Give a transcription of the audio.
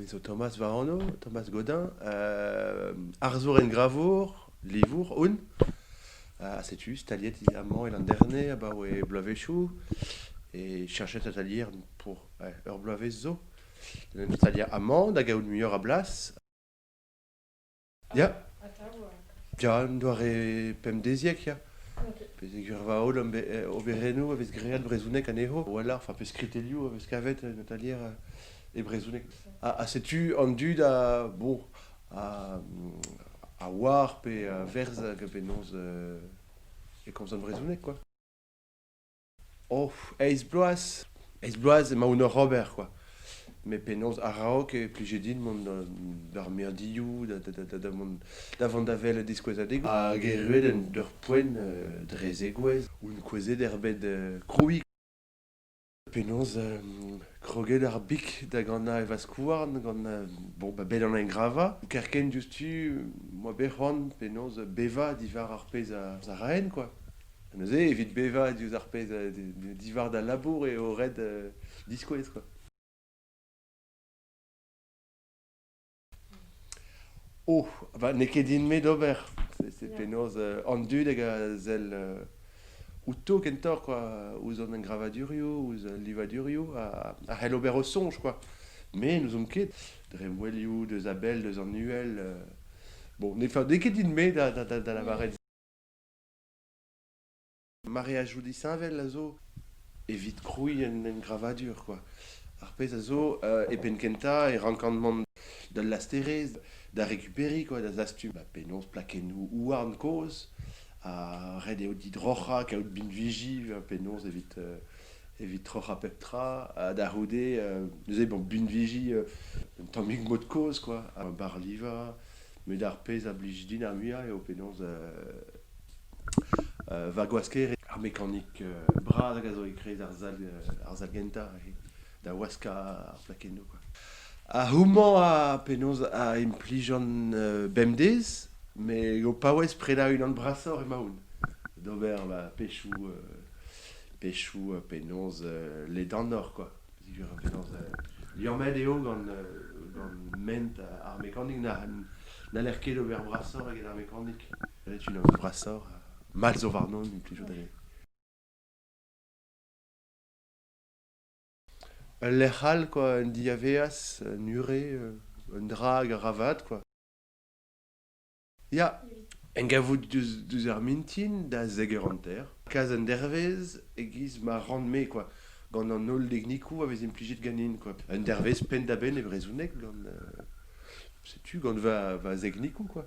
zo Thomas war anv, Thomas Godin, arzour engravour, livour on. Ha setu staliet amañ e Landerne abaoe bloavezhioù e cheñchet atalier pour ur bloavezh zo. En em staliañ amañ da gaout muioc'h a blas. Ya, ya, un doare pemdeziek, ya. Peogwir va holl ome- eh, overennoù a vez graet brezhoneg anezho, a-walc'h, fa pe skritellioù a vez kavet en atalier eh, e brezhoneg. Ha ha setu an dud a bon a a oar pe a verz hag a bennozh e komzan brezhoneg, quoi. Oh, eizh bloaz, eizh bloaz emaoun oc'h ober kwa. Met penaos araok e plije din mont d'ar mirdioù, da vont da vont da welet diskouezadegoù. Hag erruet en ur poent dre zegouezh, oun kouezhet er bed krouiñ. Penaos kroget ar bik da ganañ e vaskouarn gant bon ba bet an engravañ. Kerkent diouzhtu 'moa bet c'hoant penaos bevañ diwar ar pezh a raen kwa. Neuze, evit bevañ diouzh ar pezh diwar da labour eo ret diskouez kwa. Oh, bah, n'eo ket din-me d'ober. C'est penaos an dud hag a sell outo kentoc'h kwa, ouzh an engravadurioù, ouzh al livadurioù a c'hell ober o soñj kwa. Me n'ouzon ket, dre ouelioù deus a-bell deus an uhel, bon n'eo ket din-me da lavaret. Mareadoù disheñvel a zo evit krouiñ un engravadur kwa. Ar pezh a zo e penn-kentañ e rankan mont d'al lasterezh da rekuperiñ kwa da zastum penaos plakennoù houarn kozh ha ret eo didroc'hañ kaout binviji penaos evit evit troc'hañ pep tra ha da c'houde neuze bon binviji un tammig mod kozh kwa, bar livañ. met ar pezh a blij din ar muiañ eo penaos va gwasker ar mekanik bras hag a zo e-kreiz ar sal ar sal gentañ da waskañ ar plakennoù kwa. Ha houmañ a penaos a implijan bemdez met eo paouez prenañ unan brasoc'h emaoun d'ober ma pezhioù pezhioù penaos ledanoc'h kwa. Diwir an penaos liammet eo gant gant ment ar mekanik n'haller ket ober brasoc'h eget ar mekanik ret unan brasoc'h mat zo warnon implijout anezhe Ul lec'h all quoi, un diaveaz, un ure, un dra hag a ra vat quoi. Ya, en gavout deus, deus ar mintin da zek eur hanter, kas un dervezh e-giz ma ran-me quoi, gant an holl deknikoù a vez implijet ganin quoi. Un dervezh penn-da-benn e brezhoneg gant euh, setu gant va, va zeknikoù quoi.